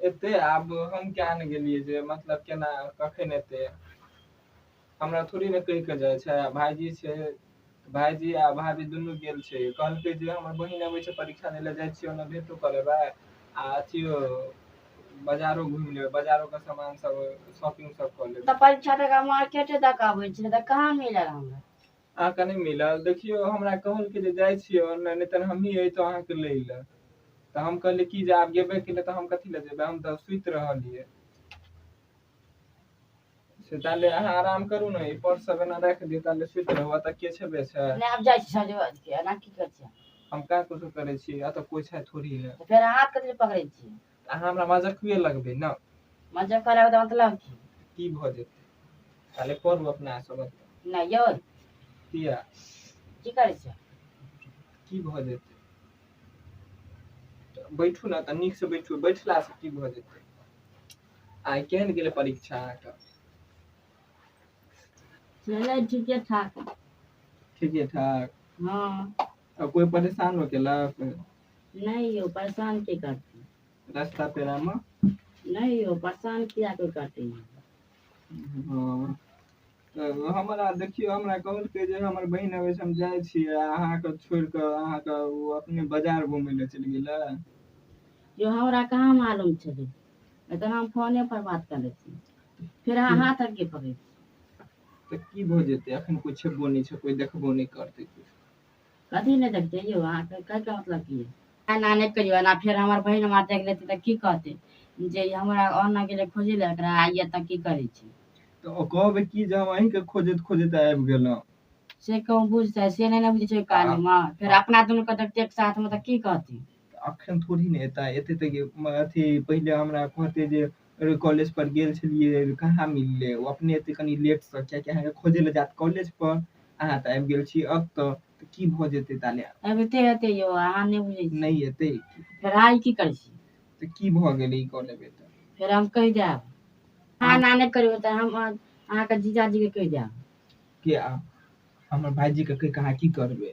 एते आब हम किया ने गेलियै जे मतलब केना कखन एते हमरा थोड़ी ने कहि कऽ जाइ छै भायजी छै भायजी आ भाभी दुनू गेल छै कहलकै जे हमर बहिन अबै छै परीक्षा दै लए जाइ छियै ओना भेटो कऽ लेबै आ अथियो बाजारो घुमि लेबै बाजारो के सामान सब शॉपिंग सब कऽ तऽ लेबै परीक्षा तक मार्केटे तक आबै छै तऽ कहाँ मिलल हमरा अहाँ के नहि मिलल देखियौ हमरा कहलकै जे जाइ छियै ऑनलाइन नहि तऽ हमही अयतहुँ अहाँके लै लए तऽ हम कहलियै कि जे आब गेबे केलै तऽ हम कथी लए जेबै हम तऽ सुति रहलियै से ताले अहाँ आराम करू ने ई पर्स सब एना राखि दियौ ताले सुति रहू एतऽ के छेबे छै नहि आब जाइ छी साँझ बाज के एना की करै छियै हम का कुछ करै छी एतऽ कोइ छै थोड़ी ने तऽ फेर हाथ कथी लए पकड़ै छियै अहाँ हमरा मजाक हुए लगबे ना मजा करे होता मतलब की की भ जेते ताले पर अपना सब ना यो किया की करे छे की भ जेते त बैठू ना त नीक से बैठू बैठला से की भ जेते आइ केहन गेले परीक्षा अहाँके चले ठीके ठाक ठीके ठाक हाँ अब कोई परेशान हो गेला नहीं यो परेशान की करती रास्ता पेरा में नहीं यो परेशान किया कोई करती हाँ। तो हमरा देखियो हमरा कहल के जे हमर बहन आवे से हम जाय छी अहाँ के छोड़ के अहाँ के वो अपने बाजार घूमे ले चल गेला जो हमरा कहाँ मालूम छले एतन हम फोने पर बात कर ले छी फिर अहाँ हाथ आगे पकड़ तो की भ जेते अखन कोई छेबो नहीं छै कोई देखबो नहीं करते कुछ कथी नहि देखते यौ अहाँके कहैके मतलब की एना नहि कहियौ एना फेर हमर बहिन हमरा देख लेतै तऽ की कहतै जे ई हमरा ओना गेलै खोजै लए एकरा आ एतऽ की करै छै तऽ ओ कहबै की जे हम अहींके खोजैत खोजैत आबि गेलहुँ से कहूँ बुझतै से नहि ने बुझै छै कालमे फेर अपना दुनूके देखतै एक साथमे तऽ की कहतै अखन थोड़ी ने एता एते तऽ अथी पहिले हमरा कहते जे कॉलेज पर गेल छलियै कहाँ मिलले ओ अपने एते कनि लेट से कियाकि अहाँके खोजे ले जायत कॉलेज पर अहाँ तऽ आबि गेल छी अब तऽ तऽ की भऽ जेतै ताले अबिते हेतै यौ अहाँ नहि बुझै छी नहि एतै फेर आइ की करै छी तऽ की भऽ गेलै ई कऽ लेबै तऽ फेर हम कहि देब अहाँ ना नहि करबै तऽ हम अहाँ- अहाँके जीजाजीके कहि देब के आब हमर भाइजीके कहि कऽ अहाँ की करबै